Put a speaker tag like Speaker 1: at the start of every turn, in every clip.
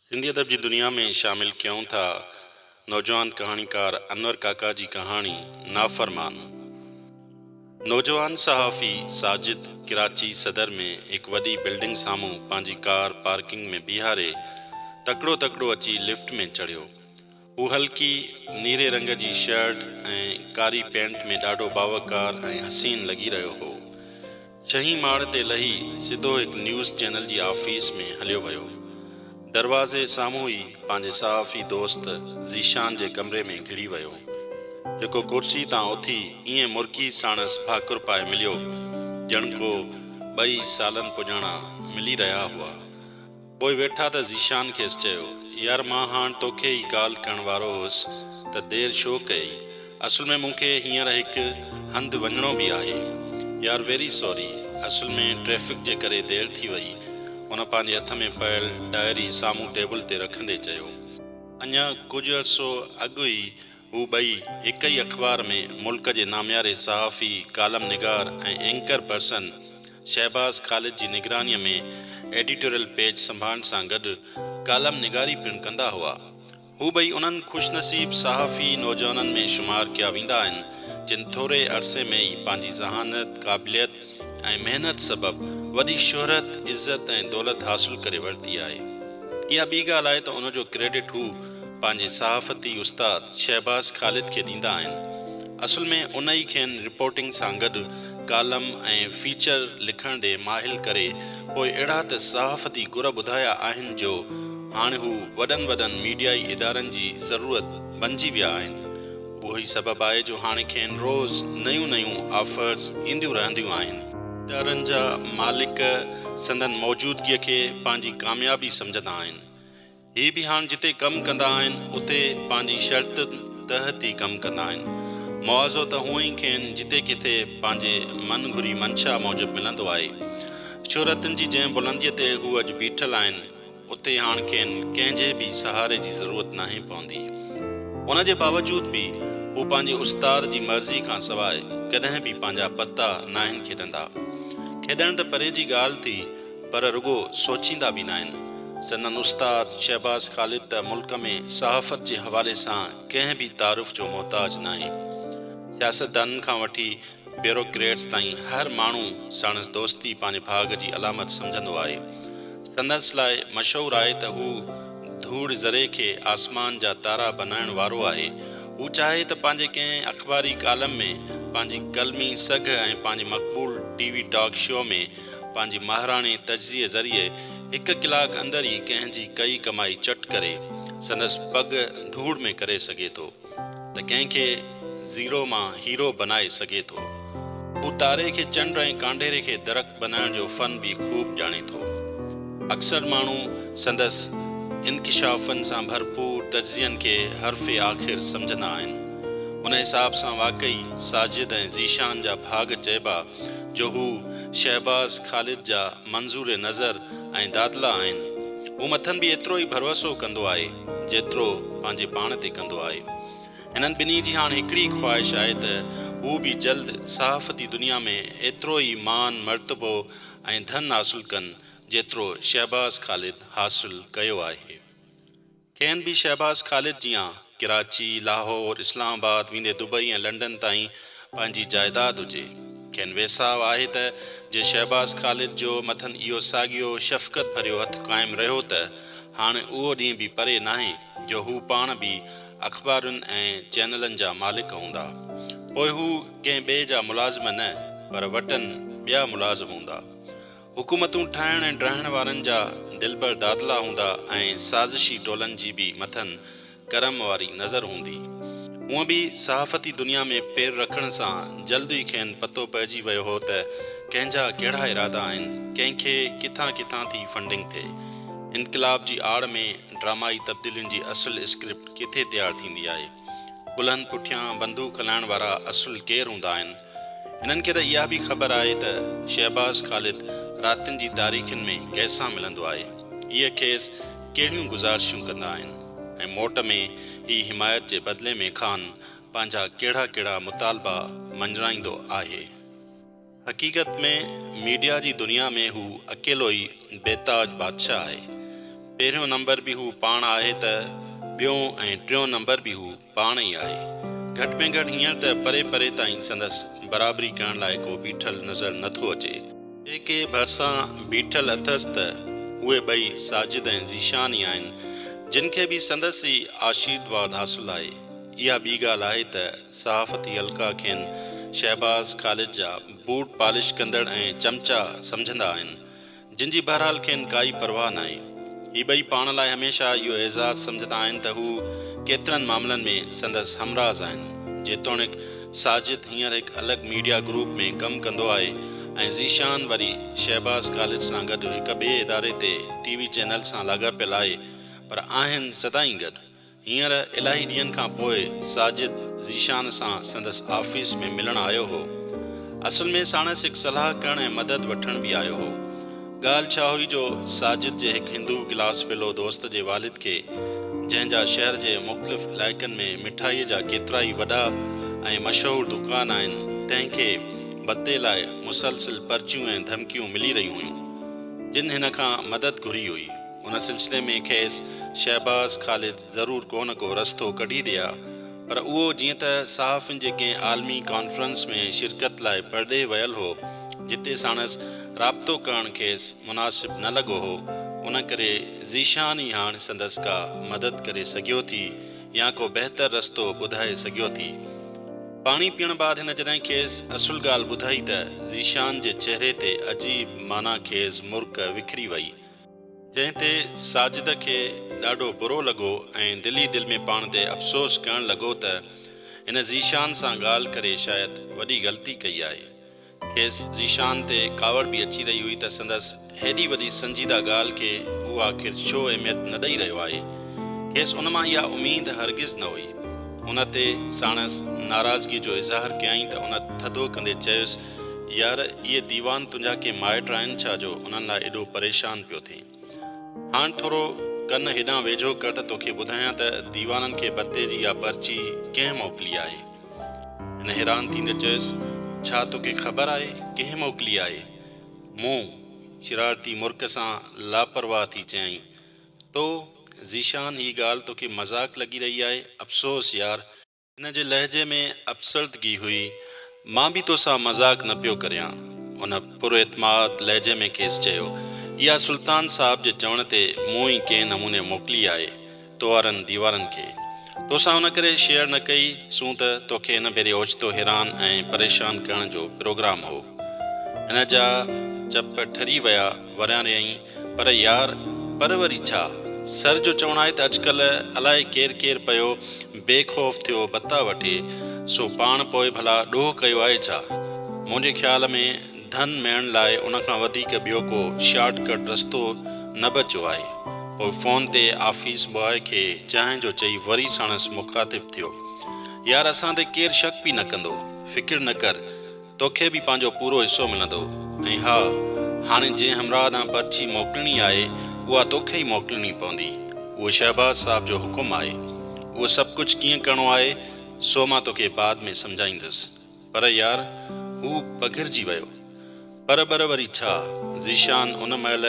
Speaker 1: سنڌي ادب جي دنيا ۾ شامل ڪيون ٿا نوجوان ڪهاڻيڪار انور ڪاڪا جي ڪهاڻي نافرمان. نوجوان صحافي ساجد ڪراچي صدر ۾ هڪ وڏي بلڊنگ سامهون پنهنجي ڪار پارڪنگ ۾ بيهاري تڪڙو تڪڙو اچي لفٽ ۾ چڙهيو. هو هلڪي نيري رنگ جي شرٽ ۽ ڪاري پينٽ ۾ ڏاڍو باوقار ۽ حسين لڳي رهيو هو. ڇهين ماڙ تي لهي سڌو هڪ نيوز چينل جي آفيس ۾ هليو ويو. دروازي سامهون ئي پنهنجي صحافي دوست ذيشان جي ڪمري ۾ گهڙي ويو، جيڪو ڪرسي تان اٿي ائين مرڪي ساڻس ڀاڪر پائي مليو، ڄڻ ڪو ٻئي سالن پڄاڻا ملي رهيا هئا. پوء ويٺا ته ذيشان کيس چيو، يار مان هاڻ توکي ئي ڪال ڪرڻ وارو هوس ته دير شو ڪيئي. اصل ۾ مون کي هينئر هڪ هنڌ وڃڻو به آهي. يار ويري سوري. اصل ۾ ٽريفڪ جي ڪري دير ٿي وئي. هن پنهنجي هٿ ۾ پيل ڊائري سامهون ٽيبل تي رکندي چيو. اڃا ڪجهه عرصو اڳ ئي هو ٻئي هڪ ئي اخبار ۾ ملڪ جي نامياري صحافي، ڪالم نگار ۽ اينڪر پرسن شهباز خالد جي نگرانيء ۾ ايڊيٽوريل پيج سنڀالڻ سان گڏ ڪالم نگاري پڻ ڪندا هئا. هو ٻئي انهن خوشنصيب صحافي نوجوانن ۾ شمار ڪيا ويندا آهن، جن ٿوري عرصي ۾ ئي پنهنجي ذهانت، قابليت، ۽ محنت سبب وڏي شهرت، عزت ۽ دولت حاصل ڪري ورتي آهي. اها ٻي ڳالهه آهي ته ان جو ڪريڊٽ هو پنهنجي صحافتي استاد شهباز خالد کي ڏيندا آهن. اصل ۾ ان ئي کين رپورٽنگ سان گڏ ڪالم ۽ فيچر لکڻ ڏي ماهل ڪري پوء اهڙا ته صحافتي گر ٻڌايا آهن جو هاڻ هو وڏن وڏن ميڊيائي ادارن جي ضرورت بنجي ويا آهن. اهو ئي سبب آهي جو هاڻي کين روز نيون نيون آفرز اينديون رهنديون آهن. ادارن جا مالڪ سندن موجودگيء کي پنهنجي ڪاميابي سمجهندا آهن. هي به هاڻ جتي ڪم ڪندا آهن اتي پنهنجي شرطن تحت ئي ڪم ڪندا آهن. معاوضو ته هونء ئي کين جتي ڪٿي پنهنجي من گهري منشا موجب ملندو آهي. شهرتن جي جنهن بلنديء تي هو اڄ بيٺل آهن، اتي هاڻ کين ڪنهن جي به سهاري جي ضرورت ناهي پوندي. ان جي باوجود به هو پنهنجي استاد جي مرضي کان سواء ڪڏهن به پنهنجا پتا ناهن کيڏندا. کيڏڻ ته پري جي ڳالهه ٿي پر رڳو سوچيندا به ناهن. سندن استاد شهباز خالد ته ملڪ ۾ صحافت جي حوالي سان ڪنهن به تعارف جو محتاج ناهي. سياستدانن کان وٺي بيوروڪريٽس تائين هر ماڻهو ساڻس دوستي پنهنجي ڀاڳ جي علامت سمجهندو آهي. سندس لاء مشهور آهي ته هو ڌوڙ ذري کي آسمان جا تارا بنائڻ وارو آهي. هو چاهي ته پنهنجي ڪنهن اخباري ڪالم ۾، پنهنجي قلمي سگهه ۽ پنهنجي مقبول ٽي وي ٽاڪ شو ۾ پنهنجي ماهراڻي تجزيي ذريعي هڪ ڪلاڪ اندر ئي ڪنهن جي ڪئي ڪمائي چٽ ڪري سندس پڳ ڌوڙ ۾ ڪري سگهي ٿو. نه ڪنهن کي زيرو مان هيرو بنائي سگهي ٿو. هو تاري کي چنڊ ۽ ڪانڍيري کي درخت بنائڻ جو فن به خوب ڄاڻي ٿو. اڪثر ماڻهو سندس انڪشافن سان ڀرپور تجزين کي حرف آخر سمجهندا آهن. ان حساب سان واقعي ساجد ۽ ذيشان جا ڀاڳ چئبا جو هو شهباز خالد جا منظور نظر ۽ دادلا آهن. هو مٿن به ايترو ئي ڀروسو ڪندو آهي. جيترو پنهنجي پاڻ تي ڪندو آهي. هنن ٻنهي جي هاڻ هڪڙي ئي خواهش آهي ته هو به جلد صحافتي دنيا ۾ ايترو ئي مان، مرتبو ۽ ڌن حاصل ڪن جيترو شهباز خالد حاصل ڪيو آهي. کين به شهباز خالد جيان ڪراچي، لاهور، اسلام آباد ويندي دبئي ۽ لنڊن تائين پنهنجي جائداد هجي. کين ويساهه آهي ته جي شهباز خالد جو مٿن اهو ساڳيو شفقت ڀريو هٿ قائم رهيو ته هاڻ اهو ڏينهن به پري ناهي جو هو پاڻ به اخبارن ۽ چينلن جا مالڪ هوندا. پوء هو ڪنهن ٻئي جا ملازم نه پر وٽن ٻيا ملازم هوندا. حڪومتون ٺاهڻ ۽ ڊاهڻ وارن جا دلبر دادلا هوندا ۽ سازشي ٽولن جي به مٿن ڪرم واري نظر هوندي. هونء به صحافتي دنيا ۾ پير رکڻ سان جلد ئي کين پتو پئجي ويو هو ته ڪنهن جا ڪهڙا ارادا آهن، ڪنهن کي ڪٿان ڪٿان ٿي فنڊنگ ٿئي. انقلاب جي آڙ ۾ ڊرامائي تبديلين جي اصل اسڪرپٽ ڪٿي تيار ٿيندي آهي. ڪلهن پٺيان بندوق هلائڻ وارا اصل ڪير هوندا آهن. هنن کي ته اها به خبر آهي ته شهباز خالد راتين جي تاريڪين ۾ ڪنهن سان ملندو آهي، اهي کيس ڪهڙيون گذارشون ڪندا آهن ۽ موٽ ۾ هي حمايت جي بدلي ۾ کان پنهنجا ڪهڙا ڪهڙا مطالبا مڃرائيندو آهي. حقيقت ۾ ميڊيا جي دنيا ۾ هو اڪيلو ئي بيتاج بادشاهه آهي. پهريون نمبر به هو پاڻ آهي ته ٻيون ۽ ٽيون نمبر به هو پاڻ ئي آهي. گهٽ ۾ گهٽ هينئر ته پري پري تائين سندس برابري ڪرڻ لاء ڪو بيٺل نظر نه ٿو اچي. جيڪي ڀرسان بيٺل اٿس ته اهي ٻئي ساجد ۽ ذيشان ئي آهن، جن کي به سندس ئي آشيرواد حاصل آهي. اها ٻي ڳالهه آهي ته صحافتي الڪا کين شهباز خالد جا بوٽ پالش ڪندڙ ۽ چمچا سمجهندا آهن. جن جي بهرحال کين ڪائي پرواهه ناهي. هي ٻئي پاڻ لاء هميشه اهو اعزاز سمجهندا آهن ته هو ڪيترن معاملن ۾ سندس همراز آهن. جيتوڻيڪ ساجد هينئر هڪ الڳ ميڊيا گروپ ۾ ڪم ڪندو آهي ۽ ذيشان وري شهباز خالد سان گڏ هڪ ٻئي اداري تي ٽي وي چينل سان لاڳاپيل آهي پر آهن سدائين گڏ. هينئر الاهي ڏينهن کان پوء ساجد ذيشان سان سندس آفيس ۾ ملڻ آيو هو. اصل ۾ ساڻس هڪ صلاح ڪرڻ ۽ مدد وٺڻ به آيو هو. ڳالهه ڇا هئي جو ساجد جي هڪ هندو گلاس فيلو دوست جي والد کي جنهن جا شهر جي مختلف علائقن ۾ مٺائيء جا ڪيترائي وڏا ۽ مشهور دڪان آهن تنهن کي ڀتي لاء مسلسل پرچيون ۽ ڌمڪيون ملي رهيون هيون جن هن کان مدد گهري هئي. ان سلسلي ۾ کيس شهباز خالد ضرور ڪو نه ڪو رستو ڪڍي ڏئي ها پر اهو جيئن ته صحافين جي ڪنهن عالمي ڪانفرنس ۾ شرڪت لاء پرڏيهه ويل هو جتي ساڻس رابطو ڪرڻ کيس مناسب نه لڳو هو ان ڪري ذيشان ئي هاڻ سندس ڪا مدد ڪري سگهيو ٿي يا ڪو بهتر رستو ٻڌائي سگهيو ٿي. پاڻي پيئڻ بعد هن جڏهن کيس اصل ڳالهه ٻڌائي ته ذيشان جي چهري تي عجيب معنيٰ خيز مرڪ وکري وئي. جنهن تي ساجده کي ڏاڍو برو لڳو ۽ دل ئي دل ۾ پاڻ تي افسوس ڪرڻ لڳو ته هن ذيشان سان ڳالهه ڪري شايد وڏي غلطي ڪئي آهي. کيس ذيشان تي ڪاوڙ به اچي رهي هئي ته سندس هيڏي وڏي سنجيده ڳالهه کي هو آخر ڇو اهميت نه ڏئي رهيو آهي. کيس ان مان اها اميد هرگز نه هئي. ان تي ساڻس ناراضگي جو اظهار ڪيائين ته ان ٿڌو ڪندي چيس، يار اهي ديوان تنهنجا ڪي مائٽ آهن ڇا جو انهن لاء ايڏو پريشان پيو ٿين. هاڻ ٿورو ڪن هيڏانهن ويجهو ڪر ته توکي ٻڌايان ته ديوانن کي بتي جي اها پرچي ڪنهن موڪلي آهي. هن حيران ٿيندي چيس، ڇا توکي خبر آهي ڪنهن موڪلي آهي؟ مون شرارتي مرڪ سان لاپرواهه ٿي چيائين، تو! ذيشان هي ڳالهه توکي مذاق لڳي رهي آهي، افسوس يار! هن جي لهجي ۾ اپسردگي هئي. مان به توسان مذاق نه پيو ڪريان. هن پر اعتماد لهجي ۾ کيس چيو، اها سلطان صاحب جي چوڻ تي مون ئي ڪنهن نموني موڪلي آهي، توارن ديوارن کي. توسان ان ڪري شيئر نه ڪئي سون ته توکي هن ڀيري اوچتو حيران ۽ پريشان ڪرڻ جو پروگرام هو. هن جا چپ ٺري ويا، وريان رهيائين. پر يار پر وري ڇا؟ سر جو چوڻ آهي ته اڄڪلهه الائي ڪير ڪير پيو بي خوف ٿيو بتا وٺي، سو پاڻ پوء ڀلا ڏوهه ڪيو آهي ڇا؟ منهنجي خيال ۾ ڌن ميڙڻ لاء ان کان وڌيڪ ٻيو ڪو شارٽ ڪٽ رستو نه بچيو آهي. پوء فون تي آفيس باء کي چانهه جو چئي وري ساڻس مخاطب ٿيو. يار اسان تي ڪير شڪ به نه ڪندو، فڪر نه ڪر. توکي به پنهنجو پورو حصو ملندو ۽ ها هاڻي جنهن همراهه ڏانهن پرچي موڪلڻي آهي اها توکي ئي موڪلڻي پوندي. اهو شهباز صاحب جو حڪم آهي. اهو سڀ ڪجهه ڪيئن ڪرڻو آهي سو مان توکي بعد ۾ سمجهائيندس. پر يار هو پگهرجي ويو. پر ٻر وري ڇا؟ ذيشان ان مهل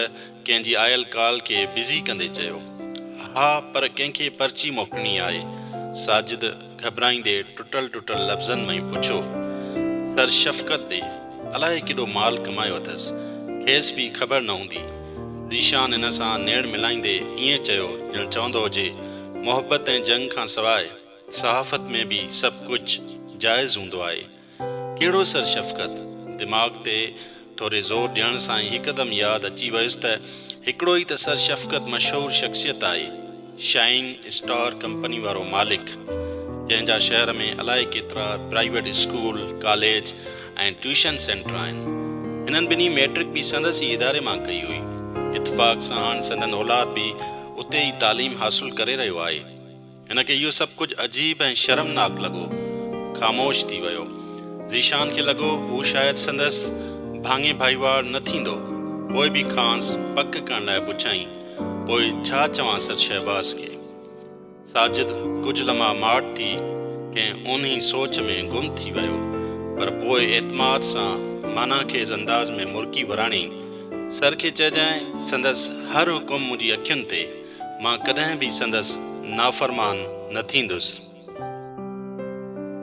Speaker 1: ڪنهن جي آيل ڪال کي بزي ڪندي چيو. ها پر ڪنهن کي پرچي موڪلڻي آهي. ساجد. گهٻرائيندي ٽٽل ٽٽل لفظن ۾ پڇيو، سر شفقت ڏي، الائي ڪيڏو مال ڪمايو اٿس، کيس به خبر نه هوندي. ذيشان هن سان نيڻ ملائيندي ائين چيو ڄڻ چوندو هجي، محبت ۽ جنگ کان سواء صحافت ۾ به سڀ ڪجهه جائز هوندو آهي. ڪهڙو سر شفقت! دماغ تي ٿوري زور ڏيڻ سان ئي هڪدم ياد اچي ويس ته هڪڙو ئي ته سر شفقت مشهور شخصيت آهي، شائين اسٽار ڪمپني وارو مالڪ، جنهن جا شهر ۾ الائي ڪيترا private school, college ۽ tuition centre آهن. هنن ٻنهي مئٽرڪ به سندس ئي اداري مان ڪئي هئي. اتفاق سان هاڻ سندن اولاد به اتي ئي تعليم حاصل ڪري رهيو آهي. هن کي اهو سڀ ڪجهه عجيب ۽ شرمناڪ لڳو. خاموش ٿي ويو. ذيشان کي لڳو هو شايد سندس ڀاڱي ڀائيوار نه ٿيندو. پوء به کانئس پڪ ڪرڻ لاء پڇيائين، پوء ڇا چوان سر شهباز کي؟ ساجد ڪجهه لمحا ماٺ ٿي ڪنهن اونهي سوچ ۾ گم ٿي ويو، پر پوء اعتماد سان معنيٰ خيز انداز ۾ مرڪي وراڻيائين، سر کي چئجانء سندس هر حڪم منهنجي اکين تي. مان ڪڏهن به سندس نافرمان نه ٿيندس.